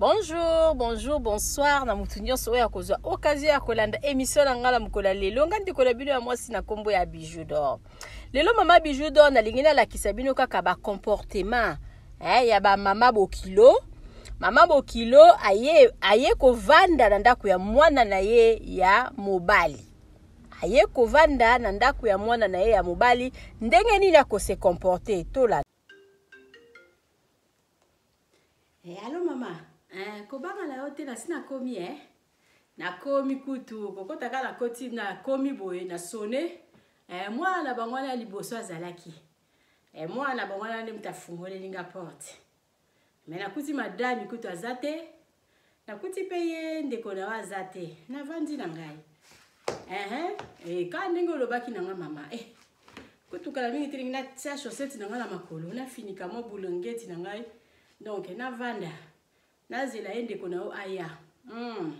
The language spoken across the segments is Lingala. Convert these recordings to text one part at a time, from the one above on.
bonjour bonjour bonsoir na motu nyonso oyo akozwa okazio ya kolanda emission na ngai na mokolo ya lelo ngai ndeko na bino ya mwasi na nkombo ya bijou dor lelo mama bijou dor nalingi nalakisa bino kaka bacomportement eh, ya bamama bokilo mama bokilo aye, aye kovanda na ndako ya mwana na ye ya mobali aye kovanda na ndako ya mwana na ye ya mobali ndenge nini akose comporte tolanda Eh, alo mama eh, kobanga na yo te nasi nakomi eh? nakomi kutu kokota kaka nakoti nakomi boye na sone eh, mwana na bango wana ya liboso azalaki eh, mwana na bango wana nde moto afungoleli nga porte me nakuti madami kutu aza te nakuti mpe ye ndeko na yo aza te navandi na ngai ehe eh, ka ndenge olobaki na nga mama eh, kotukala mingi te ndenge natia chaussette na ngai na makolo nafinika mwa bulongeti na ngai donc navanda nazela ye ndeko na yo aya mm.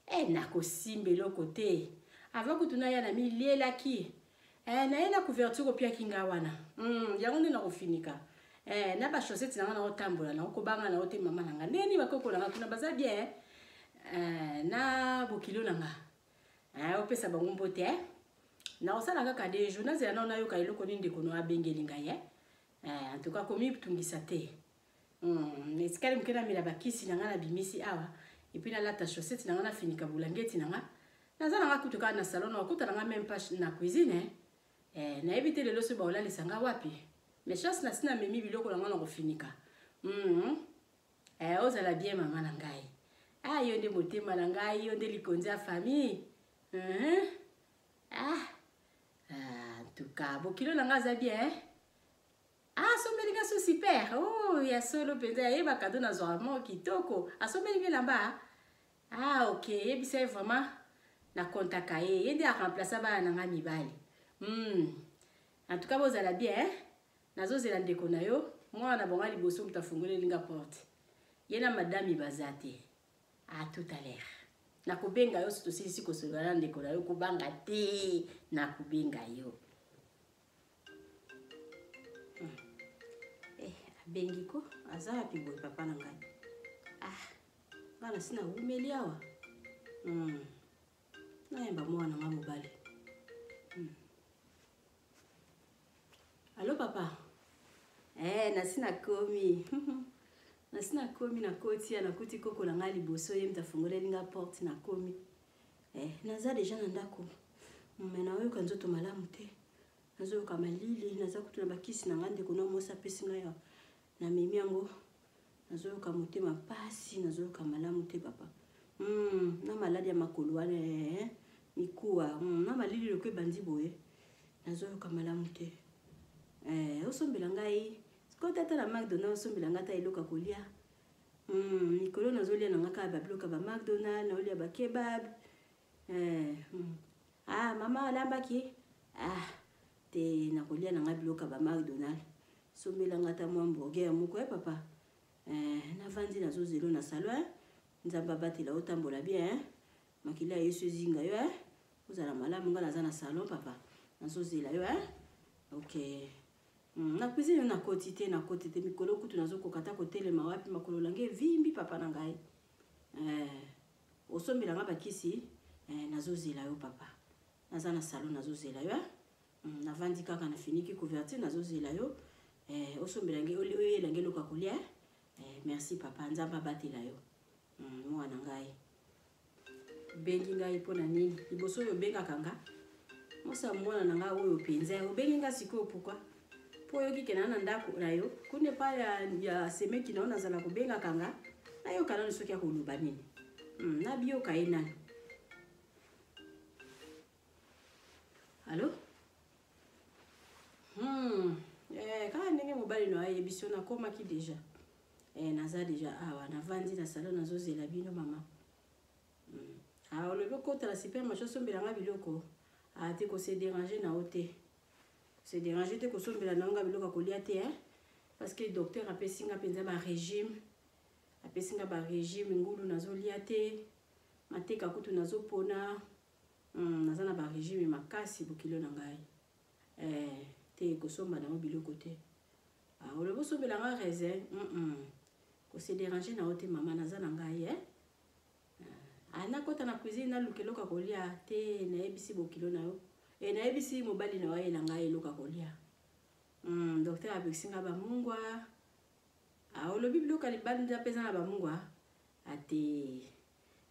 eh, nakosimba eloko te avant kutu naya na milielaki eh, naye na couverture opiaki nga wana mm, yango nde nakofinika eh, na bachaussette na nga naotambola naokobanga nao te mama na nga ndenge nini bakoko na nga kuna baza bien eh? Eh, na bokilo na nga eh, opesa bango mbote eh? nakosala kaka de jour nazela nao nayoka eloko nini ndeko no abengeli ngai eh? eh, en tout cas komitungisa te Hmm, etikali moke namela bakisi na ngai nabimisi awa epuis nalata chaussette na ngai nafinika bulangeti na ngai naza na ngai kutu kaka na salon nakuta na ngai meme pas na cuisine eh. eh, nayebi te lelo soki baolalisa ngai wapi mais chance nasi namemi biloko na ngai na kofinika mm. eh, ozala bien mama na ngai ah, yo nde motema na ngai yo nde likonzi ya famille mm -hmm. ah. ah, en tout cas bokilo na ngai aza bien eh? Ah, sombeli nga su super. Oh, ya solo penza ya yeba cadeau na zwa mo kitoko. Asombeli nga lamba. Ah, OK, yebisa ye vraiment na contacta ye. Ye nde a remplacer bana na nga mibali. Hmm. En tout cas, bozala bien. Hein? Nazozela ndeko na yo. Mwana bonga liboso moto afungoleli nga porte. Ye na madame baza te. À tout à l'heure. Nakobenga yo sotosilisi kosolola na ndeko na yo kobanga te. Nakobenga yo. abengi ko aza wapi boye papa na ngai ah ngai nasi nawumeli awa hmm. nayemba mwana nga mobali hmm. alo papa eh, nasi nakomi nasi nakomi nakoti ya nakuti koko na ngai liboso ye mta afungoleli nga porte nakomi eh, naza deja na ndako me nayoka nzoto malamu te nazoyoka malili naza kutu na bakisi na ngai ndeko na mwasi apesi ngai ya namemi yango nazoyoka motema mpasi nazoyoka malamu te papa mm, na maladi ya makolo wana eh, eh, mikuwa mm, na malili loko ebandi boye nazoyoka malamu te eh, osombela ngai sikoyo tata na macdonald osombela ngai ata eloko ya kolia Hum, mikolo nazolia na nga kaka babiloka ba McDonald, naolia ba kebab. Eh, hum. Ah, mama alambaki? Ah, te nakolia na nga biloka ba McDonald. Sombela nga ta mwa hamburger moko eh papa. Eh, navandi nazo zelo na salon eh. Nzambe abatela otambola bien eh. Makila ya Yesu ezinga yo eh. Ozala malamu nga naza na salon papa. Nazo zela yo eh. Okay. Hmm, na cuisine na koti te na koti te mikolo kutu nazokoka ata kotelema wapi makolo nange evimbi papa na ngai eh, osombela nga bakisi eh, nazozela yo papa naza na salon nazozela yo eh? hmm, navandi kaka nafiniki couverture nazozela yo eh, osombela nge oyela nge eloko ya kolia eh? eh, merci papa nzambe abatela yo Hum, mwana ngai. Obengi ngai mpo na nini? Liboso oyo obengaka nga? Mosa mwana na ngai oyo mpenza. Obengi nga sikoyo pourquoi? Mpo oyoki kena na ndako na yo. Kuna epai ya, ya semeki na yo nazala kobengaka nga. Nayoka nanu soki akoloba nini. Hum, nabiyoka ye nanu. Allô? Hmm. Eh, kaka ndenge mobali na yo ayebi so nakomaki deja. eh, naza deja awa navandi na salon nazozela bino mama mm. ah, olobi okota na supermarché osombela nga biloko ah, te kose dérange na yo te se dérange te kosombela na yo nga biloko ya kolia te eh? parce que docteur apesi nga mpenza barégime apesi nga barégime ngulu nazolia te mateka kutu nazopona mm, naza na barégime makasi bokilo na ngai Eh, te kosomba nango biloko te ah, olobi osombela nga raisin mm -mm. kose déranger na yo te mama naza na ngai eh? ah, nakota na cuisine naluka eloko ya kolia te nayebisi bokilo na yo e nayebisi mobali na yo ayela ngai eloko ya kolia mm, docteur abekisi nga bamungwa ah, olobi biloko ya libanda mpe eza na bamungwa ate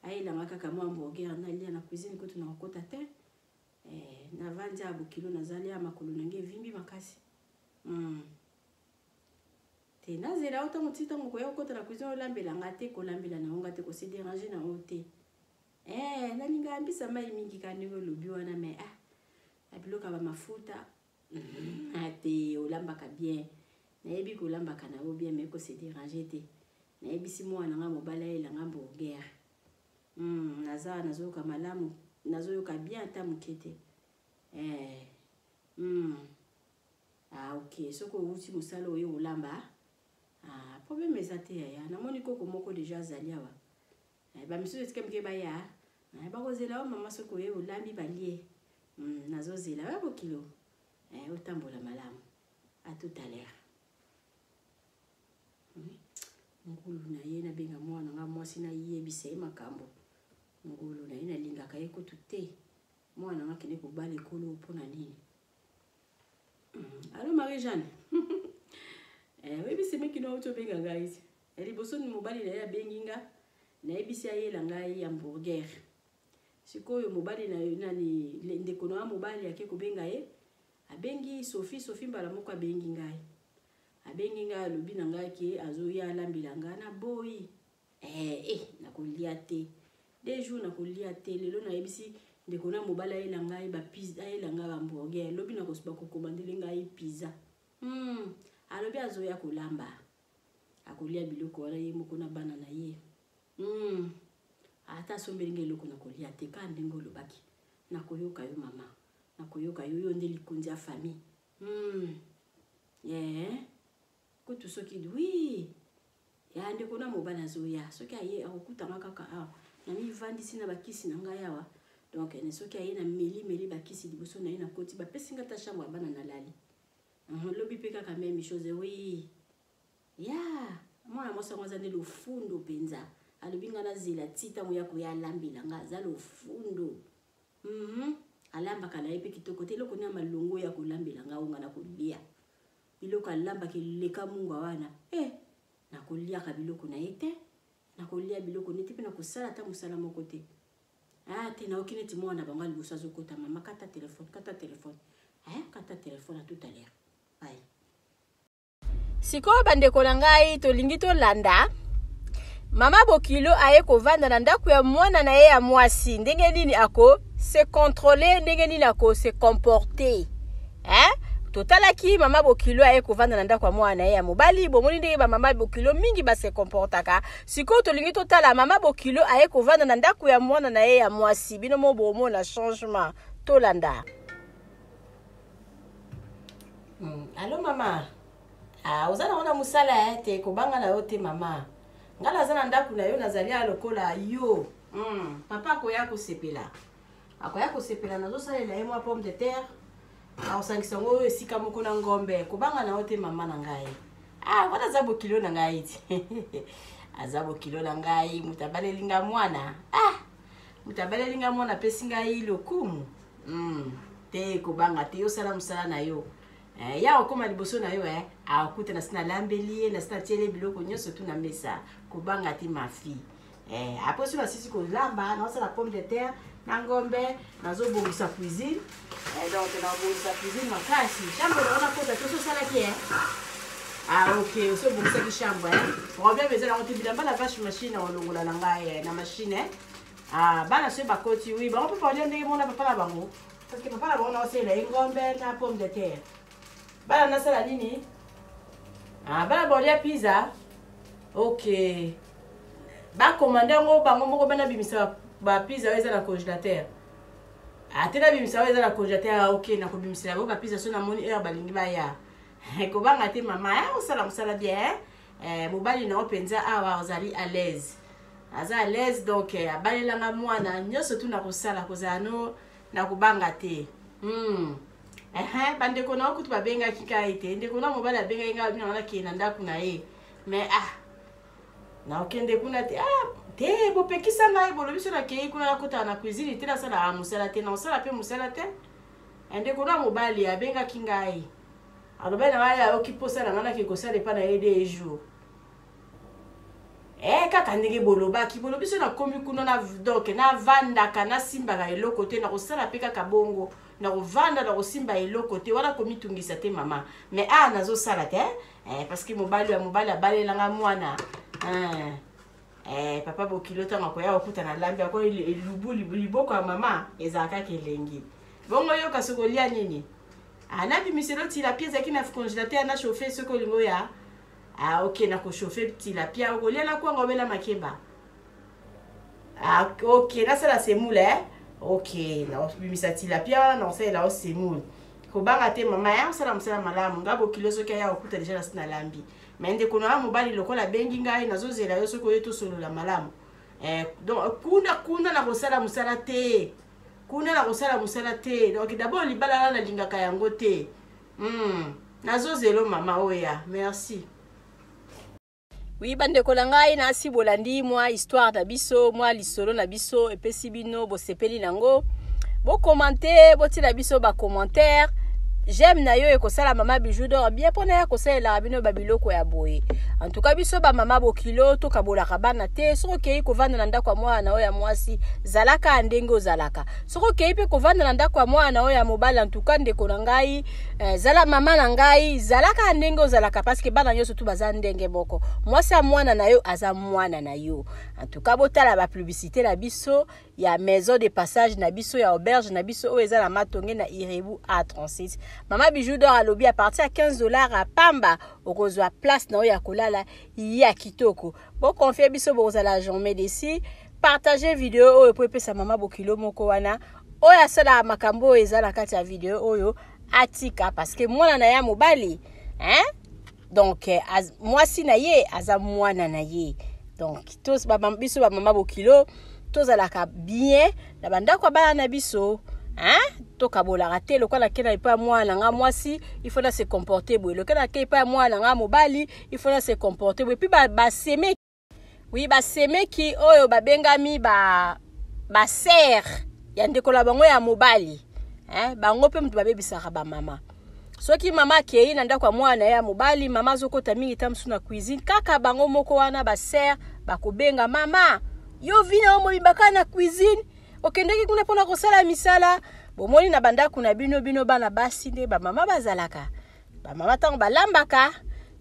ah, ayelanga kaka mwa hamburger nalia na cuisine kutu na kokota te Eh, navandi ya bokilo nazali ya makolo na ngai evimbi makasi mm. te nazela yo ntango ti ntango koya kokota na cuisine olambela nga te kolambela na yo nga te kose dérange na yo te eh, nalinga yambisa mai mingi ka ndenge olobi wana me ah, na biloko ya bamafuta mm, ah, te olambaka bien nayebi kolambaka na yo bien me kose dérange te nayebisi mwana nga mobali ayelanga mburgere Hum, naza nazoyoka malamu, nazoyoka bien ata moke te. Eh, hum. Ah, ok, soki owuti mosala oye olamba. Ah, problème eza te yaya. Namoni koko moko deja azali awa. Eh, ba misusu etika mike baya. Eh, bakozela yo mama soki oye olambi balie. Hum, nazozela yo bokilo. Eh, otambola malamu. À tout à l'heure. ngulu na ye nabenga mwana nga mwasi nayebisa ye makambo ngulu na ye nalingaka ye kutu te mwana nga akende kobala ekolo mpo na nini hmm, alo marie jeanne eh, oyebisi mekino auti obenga ngai ti eh, liboso ni mobali na ye abengi nga nayebisi ayela ngai hamburger sikoyo mobali na yo nani ndeko na yo mobali ake kobenga ye Abengi Sophie, Sophie mbala moko abengi ngai. Abengi ngai alobi na ngai ke azoya alambela ngai na boyi. Eh, eh, nakolia te. Deux jours nakolia te. Lelo nayebisi ndeko na mobali ayela ngai ba pizza, ayela ngai hamburger. Lobi nakosuba kokomandele ngai pizza. Hmm, alobi azoya kolamba. Akolia biloko wana ye moko na bana na ye. Hmm, ata asombeli ngai eloko nakolia te kaka ndenge olobaki. Nakoyoka yo mama. nakoyoka yo yo nde likonzi ya famille hmm. yeah. kutu soki wi ya ndeko na mobali azoya soki aye akokutanga kaka awa namivandisi na bakisi na ngai awa donc ne soki aye na meli meli bakisi liboso na ye nakoti bapesi ngai ta chambre ya bana nalali lobi mpe kaka meme chose wi ya yeah. mwana mwasi yango aza nde lofundo mpenza alobi ngai nazela ti ntango ya koya alambela ngai aza lofundo Hum alambaka na ye mpe kitoko te eloko nini ya malongo ya kolambela nga onga na kolia biloko alambaka eleka mungwa wana e eh, nakoliaka biloko na ye te nakolia biloko nete mpe nakosala ata mosala moko te ah te naoki neti mwana na bango ya liboso azokota mama kata telefone kata telefone eh, kata telefone a tout à l'heure bai sikoyo bandeko na ngai tolingi tolanda mama bokilo aye kovanda na ndako ya mwana na ye ya mwasi ndenge nini ako se controle ndenge nini ako se comporte eh? totalaki mama bokilo aye kovanda na ndako ya mwana na ye ya mobali bomoni ndenge bamama bokilo mingi base comportaka sikoyo tolingi totala mama bokilo aye kovanda na ndako ya mwana na ye ya mwasi bino mo bomona changement tolanda Mm, alo mama ah, oza nango na mosala ya te kobanga na yo te mama ngai naza na ndako na yo nazali ya lokola yo mm, papa akoya kosepela akoya kosepela nazosalela ye mwa pomme de terre akosangisa yango oyo esika moko na ngombe kobanga na yo te mama na ngai ah, wana aza bokilo na ngai ti aza bokilo na ngai moto abaleli ngai mwana ah, moto abaleli ngai mwana apesi ngai lokumu mm, te kobanga te osala mosala na yo eh, ya okóma liboso na yo eh, akuta nasi nalambeli ye nasi natieli ye biloko nyonso tu na mesa kobanga te mafi eh, apres soki nasisi kolamba naosala pomme de terre na ngombe nazobongisa cuisine eh, donc nakobongisa cuisine makasi chambre na wana kota te ososalaki eh? ah ok osi obongisaki chambre eh? problème eza nango te bilamba na vache machine olongola na ngai eh, na machine eh? Ah, bana soki bakoti wi bango mpe baolia ndenge mona papa na bango parce que papa na bango naosalela ye ngombe na pomme de terre bana nasala nini ah, bana baolia pizza ok bakomanda yango bango moko bana bimisa bapizza oyo eza na congélateur ate ah, nabimisa oyo eza na congélateur ah, ok nakobimisela bango bapizza so namoni heure balingi baya kobanga te mama osala mosala bien eh, mobali na yo mpenza awa ozali à l'aise aza à l'aise donc eh, abalelanga mwana nyonso tu na kosala kozala no na kobanga te mm. ehe bandeko na yo kutu babengaki ngai te ndeko na mobali abengaki ngai abinanga nakende na ndako na ye mais ah nakokende kuna te ah te bopekisa ngai bolobi so nakei kuna nakotaka na cuisine te nasalaka mosala te nakosala mpe mosala te eh, ndeko na mobali abengaki ngai alobai na ngai ayoki mposa na ngai nake kosala epai na ye de jour e eh, kaka ndenge bolobaki bolobi so nakomi kuna na donk navandaka nasimbaka eloko te nakosala mpe kaka bongo nakovanda nakosimba eloko te wana komitungisa te mama mais awa ah, nazosala te eh, parce que mobali ya mobali abalela ngai mwana eh. Eh, papa bokilo ntango akoya kokuta na lambi ako elubu liboko ya mama ezala kaka elengi bongo yoka soki olia nini anabimiselo ah, tilapia ezalaki na congélateur na chauffe soki olingi oya ah, oke na kochauffe tilapia okolia na kwanga obela makemba ah, oke nasala semoule eh? oke nabimisa tilapia wana nakosalela o semoule kobanga te mama ya mosala mosala malamu nga bokilo soki aya kokuta deja nasi nalambi me ndeko na yo mobali lokola abengi ngai nazozela yo soki oye tosolola malamu eh, donc kuna kuna na kosala mosala te kuna na kosala mosala te donc dabord libala na nalingaka yango te mm. nazozelo mama oya merci wi bandeko na ngai nasi bolandi mwa histoire na biso mwa lisolo na biso epesi bino bosepeli nango bokomante botiela biso bacommentaire j'aime na yo ekosala mama bijou dor bien mpo na ya kosalelaka bino babiloko ya boye antuka biso bamama bokilo tokabolaka bana te soki okei kovanda na ndako ya mwana na oyo ya mwasi zalaka ndenge ozalaka soki okei mpe kovanda na ndako ya mwana na oyo ya mobali antuka ndeko na ngai eh, zala mama na ngai zalaka ndenge ozalaka parceke bana nyonso tu baza ndenge moko mwasi ya mwana na yo aza mwana na yo En tout cas, botala ba publicité na biso ya maison de passage na biso ya auberge na biso oyo eza na matonge na Irebu A36. Mama Bijou d'or alobi à partir ya 15 dollars à pamba okozwa place na yo ya kolala ya kitoko. Bo confier biso bokozala jamais déçu. Partagez video oyo po epesa mama bokilo moko wana oyo asalaka makambo oyo eza na kati ya video oyo atika parce que mwana na ya mobali hein donc eh, mwasi na ye aza mwana na ye donc biso bamama bokilo tozalaka bien na bandako ya bana na biso hein? tokabolaka te lokola nakei na epai ya mwana na ngai mwasi ifo na se comporte boye lokola nakei epai ya mwana na ngai mobali ifo na se comporte boye mpe baseme Oui, ba semeki oyo babengami ba ba sœur ya ndeko na bango ya mobali. Hein, bango pe mutu babebisaka ba mama. Soki mama akei na ndako ya mwana na ye ya mobali, mama azokota mingi ta mosusu na cuisine, kaka bango moko wana ba sœur bakobenga mama, yo vina yo mobimba kaka na cuisine, okendeki kuna mpona kosala misala. Bomoni na bandako na bino, bino bana basi nde bamama bazalaka bamama ntango balambaka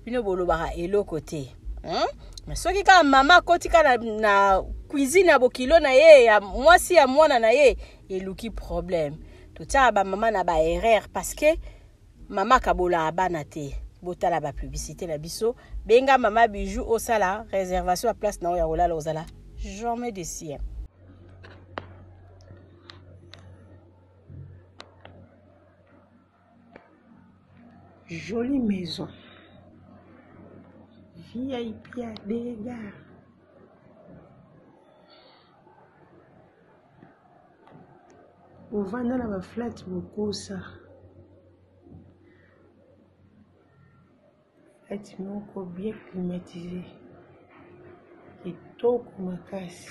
bino bolobaka eloko te hmm? mais soki kaka mama akoti kaka na, na cuisine ya bokilo na ye ya mwasi ya mwana na ye eluki problème totyaka bamama na baerreur parce que mama akabolaka bana te botala bapublicité na biso benga mama bijou osala réservation ya place na oyo ya kolala ozala jamais de sien Jolie maison. VIP ya dega. Ovanda na ba flat bokosa. Flat moko bien climatisé. Kitoko makasi.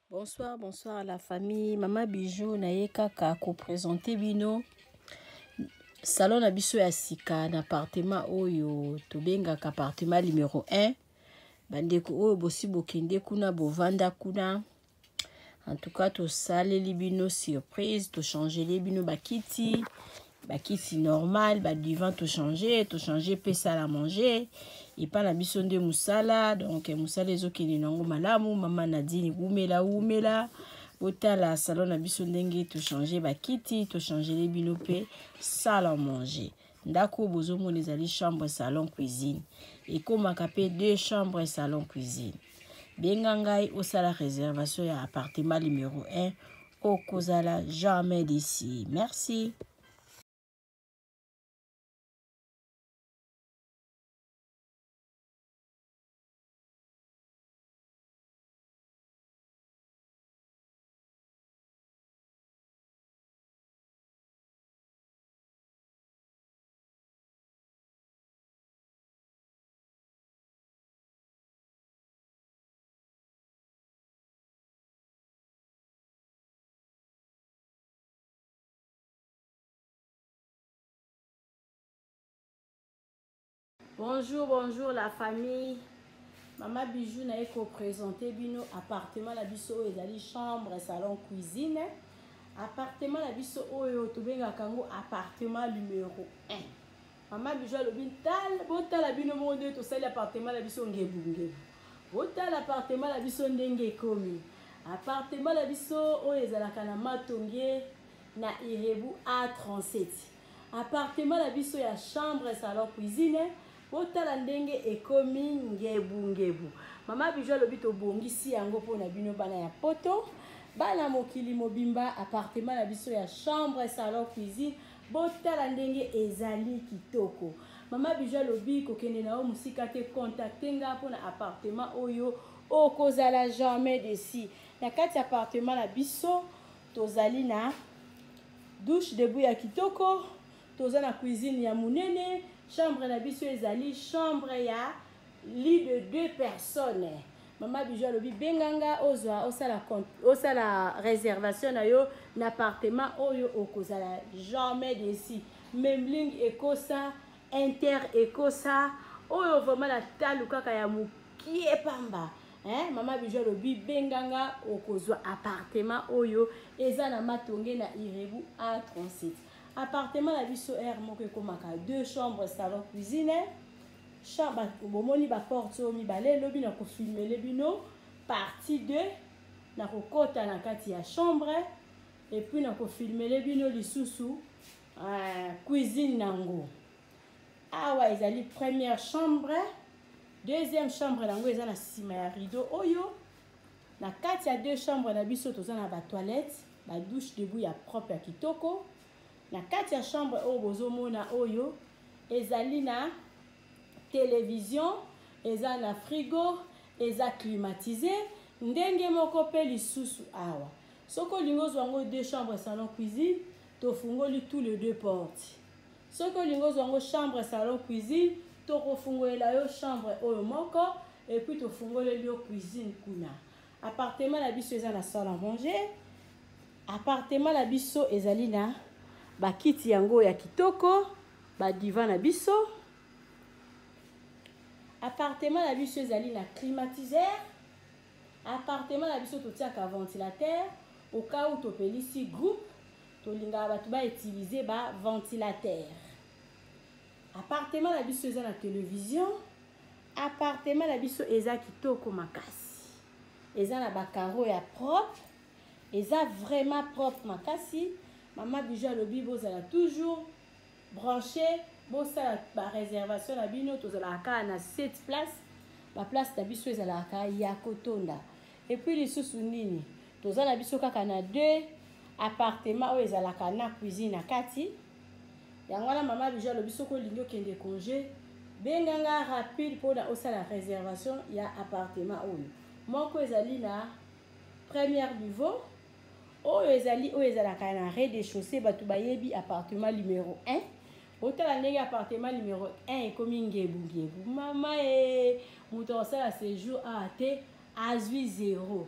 Bonsoir, bonsoir à la famille. Maman Bijou, na ye kaka ko présenter bino salon na biso ya sika na appartement oyo tobengaka appartement numéro 1. Bandeko oyo bosi bokende kuna bovanda kuna. En tout cas, tosaleli bino surprise, tochangeli bino bakiti. bakisi normal badivan tochange tochange mpe sala manger epai na biso nde mosala donk mosala ezokende nango malamu mama nadini wumela wumela botala salon na biso ndenge tochange bakiti tochangele bino mpe sala manger ndako oyo bozomona ezali chambre salon cuisine ekomaka mpe deux chambre salon cuisine benga ngai osala réservation ya appartement numero 1 okozala jamais desi merci bonjour bonjour la famille mama bijou naye kopresente bino appartement na biso oyo ezali chambre salon cuisine appartement na biso oyo tobengaka yango appartement numero 1 mama bijo alobi ntala botala bino moko nde tosali appartement na biso ngebungebu botala appartement na biso ndenge ekomi appartement na biso oyo ezalaka na matonge na irebu a37 appartement na biso ya chambre salon cuisine botala ndenge ekomi ngebungebu mama bijo alobi tobongisi yango mpo na bino bana ya poto bana mokili mobimba appartement na biso ya chambre salon cuisine botala ndenge ezali kitoko mama biju alobi kokende na yo mosika te contacte nga mpo na appartement oyo okozala jamais desi na kati ya appartement na biso tozali na douche debout ya kitoko toza na cuisine ya monene chambre na biso ezali chambre ya lit de deux personnes mama bijo alobi benga nga ozwa osala, osala réservation na yo na appartement oyo okozala jamais desi memling ekosa inter ekosa oyo vraiment na talu kaka ya mokie pamba eh, mama bijo alobi benga nga okozwa appartement oyo eza na matonge na irebu a 37 appartement na biso r moko ekomaka deux chambres salon cuisine sha bato bomoni baporte oyo mibale elobi na kofilmele bino partie 2 na kokota na kati ya chambre epuis na kofilmele bino lisusu uh, cuisine nango awa ezali première chambre deuxième chambre nango eza na nsima ya rideau oyo na kati ya deux chambre na biso toza na batoilette badouche debout ya propre ya kitoko Na kati ya chambre oyo bozomona oyo ezali na television, eza na frigo, eza climatise ndenge moko mpe lisusu awa soki olingi ozwa yango deux chambre salon cuisine tofungoli tout le deux porte soki olingi ozwa yango chambre salon cuisine tokofungolela yo chambre oyo moko epuis tofungoleli yo cuisine kuna Appartement na biso eza na salle à manger. Appartement na biso ezali na bakiti yango ya kitoko, ba divan na biso. Appartement na biso ezali na climatiseur. Appartement na biso totiaka ventilateur au cas où topelisi groupe tolingaka bato ba utiliser ba ventilateur. Appartement na biso eza na television. Appartement na biso eza kitoko makasi. Eza na ba carreaux ya propre. Eza vraiment propre makasi. Mama Bijou alobi bozala toujours branché bosala ba réservation na bino tozalaka kaka na 7 place ba place na biso ezalaka kaka ya kotonda et puis lisusu nini toza na biso kaka na 2 appartement oyo ezalaka na cuisine na kati yango wana mama biju alobi soki olingi okende congé benga nga rapide mpona osala réservation ya appartement oyo moko ezali na première niveau oyo ezali oyo ezalaka na rez de chaussée bato bayebi appartement numéro 1 botala ndenge appartement numéro 1 ekomi ngebungebu mama e moto akosala séjour awa te azwi zero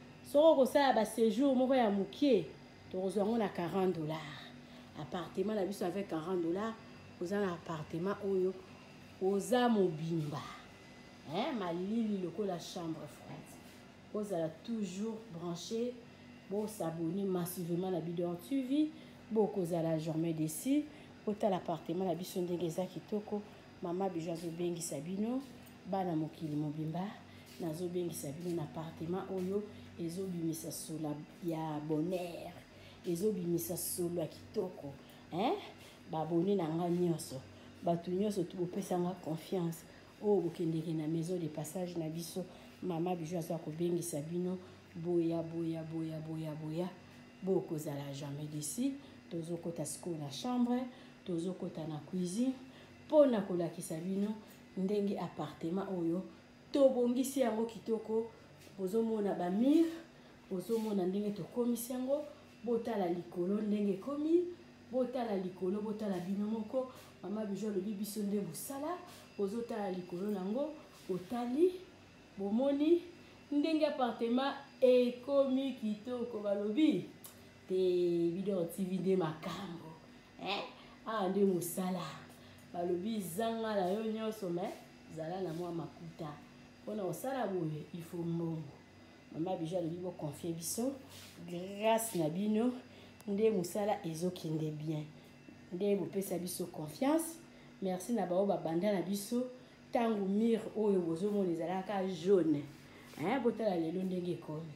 soki okosala ba séjour moko ya mokie tokozwa yango na 40 dollars appartement na biso avec 40 dollars oza na appartement oyo oza mobimba eh, malili lokola chambre froide bozala toujours branché bosabone massivement na bidor tv bokozala jamais desi botala appartement na biso ndenge eza kitoko Mama Bijou azobengisa bino bana mokili mobimba nazobengisa bino na apartema oyo ezobimisa sola ya bonheur ezobimisa solo ya kitoko eh? babone na ngai nyonso bato nyonso tokopesa ngai confiance oyo oh, bokendeke na maison de passage na biso mama bijo aza kobengisa bino boya boya boya boya boya bokozala jamais desi tozokota sikoyo na chambre tozokota na cuisine mpo na kolakisa bino ndenge appartement oyo tobongisi yango kitoko bozomona bamire bozomona ndenge tokomisi yango botala likolo ndenge ekomi botala likolo botala bino moko mama bijo alobi biso nde mosala bozotala likolo nango botali bomoni ndenge apartema ekomi kitoko balobi te bidor tv nde makambo eh? awa ah, nde mosala balobi zanga na yo nyonso me zala na mwa makuta mpona kosala boye ifo mbongo mama bijo alobi boconfie biso grâce na bino nde mosala ezokende bien nde bopesa biso confiance merci na baoyo babanda na biso ntango mire oyo bozomona ezalaka jaune botala lelo ndenge ekomi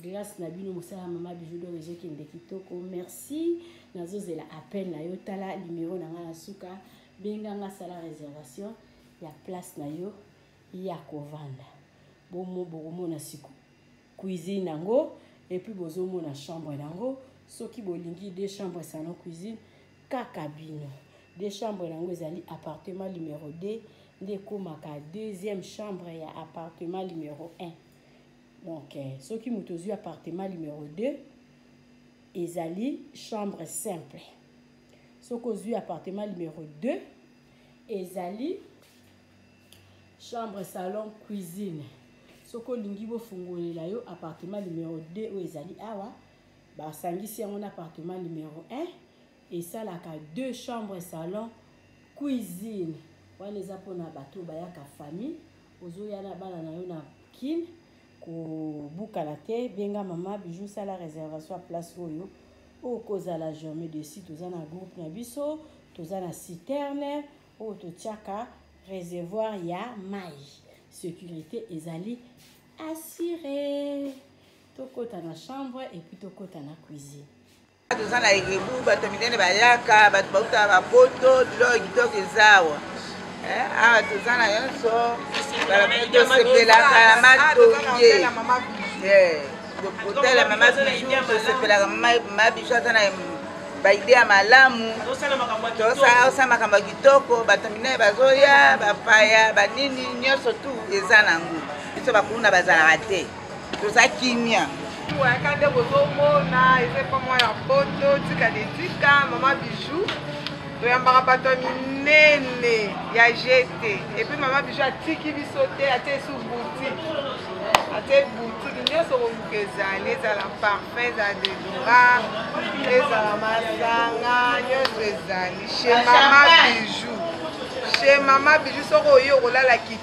glace na bino mosala ya mama bijou dor ezokende kitoko merci nazozela appel na yo tala limero na ngai na suka benganga sala réservation ya place na yo ya kovanda bomo bokomona siko cuisine yango epuis bozomona chambre yango soki bolingi de chambre salon cuisine kaka bino de chambre yango ezali appartement numero 2 nde ekomaka deuxième chambre ya appartement numero 1 Donc, eh, soki moto ozwi appartement numero 2 ezali chambre simple soki ozwi appartement numero 2 ezali chambre salon cuisine soki olingi bofungolela yo appartement numero 2 oyo ezali awa basangisi yango na appartement numero 1 esalaka 2 chambre salon cuisine wana eza mpona bato bayaka famille ozoya na bana na yo na kin kobukana te benga mama bijou sala réservation ya place oyo okozala jamais desi toza na groupe na biso toza na citerne oyo totiaka réservoir ya mai sécurité ezali assure tokota na chambre epuis tokota na cuisine toza na egebu bato ya minene bayaka bato bauta bapoto biloko kitoko ezawa eh, awa toza na nyonso tosepelaka na matonge kotala mama bijou tosepelaka mama bijou aza na baide ya malamu tosala makambo ya kitoko bato minene bazoya bapaya banini nyonso tu eza nango biso bakulu na bazalaka te toza kimia oyaka nde bozomona eza epa mwa ya poto tika de tika mama bijou toyambaka bato ya minene ya jete epuis mama bijou atiki biso te atie esu boutique atie boutique nyonso koluka ezali ezala parfum ezala dedora ezala masanga nyonso ezali chez mama bijou chez mama bijou soki oye okolala kiti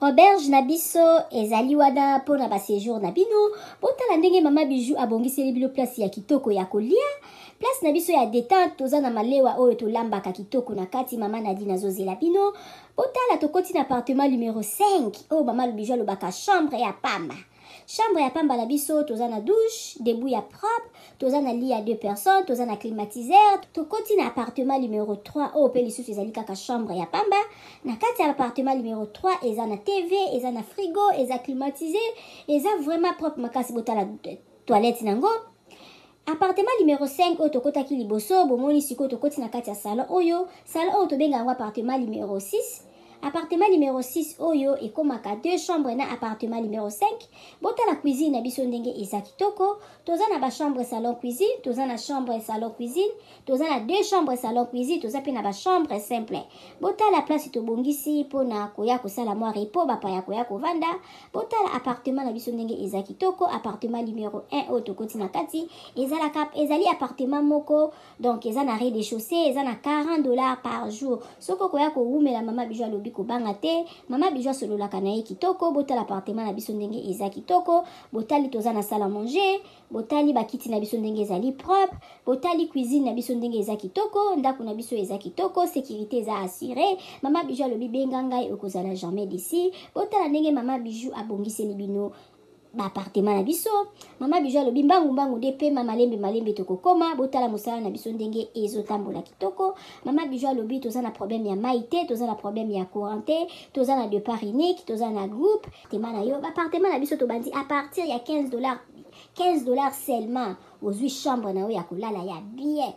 Auberge na biso ezali wana mpo na ba sejour na bino. Botala ndenge mama Bijou abongiseli bino place ya kitoko ya kolia. Place na biso ya detente toza na malewa oyo tolambaka kitoko na kati. Mama Nadine azozela bino. Botala tokoti na appartement numero 5 oyo mama Bijou alobaka chambre ya pamba. Chambre ya pamba na biso toza na douche, debout ya propre, toza na lit ya deux personnes, toza na climatiseur, tokoti na appartement numero 3 oyo mpe lisusu ezali kaka chambre ya pamba. Na kati ya appartement numero 3 eza na TV, eza na frigo, eza climatisé, eza vraiment propre makasi botala toilette nango. Appartement numero 5 oyo tokotaki liboso, bomoni sikoyo tokoti na kati ya salon oyo, salon oyo tobenga yango appartement numero 6, appartement numero 6 oyo ekomaka deux chambres na appartement numero 5, botala cuisine na biso ndenge eza kitoko, toza na ba chambres salon cuisine, toza na chambre salon cuisine, toza na deux chambres salon cuisine toza mpe na bachambre simple botala place tobongisi mpo na koya kosala mwa repo bapaya koya kovanda botala appartement na biso ndenge eza kitoko appartement numero 1 oyo tokoti na kati ezalaka ezali appartement moko donc eza na rez de chaussée eza na 40 dollars par jour soki okoya kowumela mama bijo alobi kobanga te mama bijo asololaka na ye kitoko botala appartement na biso ndenge eza kitoko botali toza na sala manger botali bakiti na biso ndenge ezali propre botali cuisine na biso ndenge eza kitoko ndako na biso eza kitoko sécurité eza assure mama bijou alobi benga ngai okozala jamais desi botala ndenge mama bijou abongiseli bino baapartema na biso mama bijou alobi mbangu mbangu nde pema malembe malembe tokokoma botala mosala na biso ndenge ezotambola kitoko mama bijou alobi toza na problème ya mai te toza na problème ya courant te toza na depart unique toza na groupe Appartement na yo, ba appartement na biso tobandi à partir ya 15 dollars 15 dollars seulement ozui chambre na yo ya kolala ya bien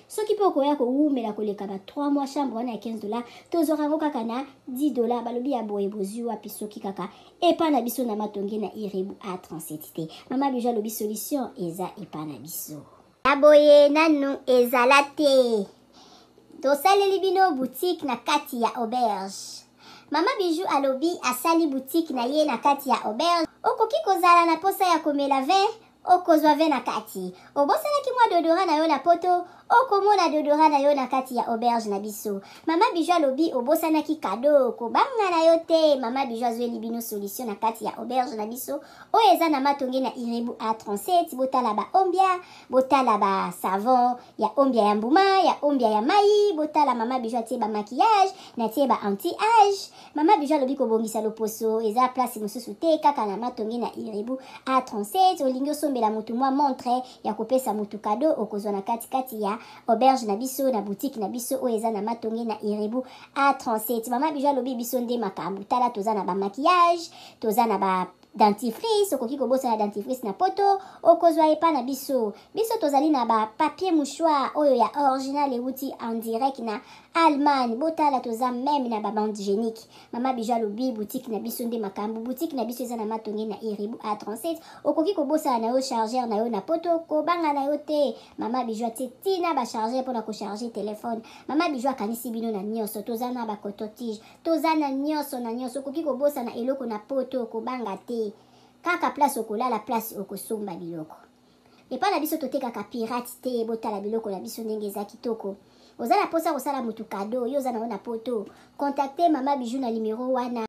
soki mpe okoya kowumela koleka ba 3 mois chambre wana ya 15 dollars tozwaka yango kaka na 10 dollars balobi ya boye bozwi wapi soki kaka epa na biso na matonge na irebu a 37 te mama bijo alobi solution eza epa na biso ya boye nanu ezala te tosaleli bino boutique na kati ya auberge mama bijou alobi asali boutique na ye na kati ya auberge okoki kozala na posa ya komela vin okozwa vin na kati obosanaki mwa dodora na yo na poto okomona dodora na yo na kati ya auberge na biso mama bijou alobi obosanaki kado kobanga na yo te mama bijou azweli bino solution na kati ya auberge na biso oyo eza na matonge na irebu a 37 botala ba ombia botala ba savon ya ombia ya mbuma ya ombia ya mai botala mama bijo atie ba maquillage natie ba anti age mama bijo alobi kobongisa loposo eza place mosusu te kaka na matonge na irebu a 37 olingi osombela motu mwa montre ya kopesa motu kado okozwa na katikati ya auberge na biso na boutique na biso oyo eza na matonge na irebu a 37 mama bijo alobi biso nde makambo tala toza na ba maquillage toza na ba dentifrice okoki kobosana dentifrice na poto okozwa epa na biso biso tozali na ba papier mouchoir oyo ya original ewuti en direct na allemagne botala toza meme na babande génique mama bijo alobi boutique na biso nde makambo boutique na biso eza na matonge na iribu a 37 okoki kobosana na yo chargeur na yo na poto kobanga na yo te mama bijo atie tina bachargeur mpona kocharge telefone mama bijo akanisi bino na nyonso toza na bacototige toza na nyonso na nyonso okoki kobosana eloko na poto okobanga te kaka place okolala place okosomba biloko epai na biso totekaka pirate te botala biloko na biso ndenge eza kitoko oza na mposa kosala motu kado yo oza nango na poto contacte mama bijou na nimero wana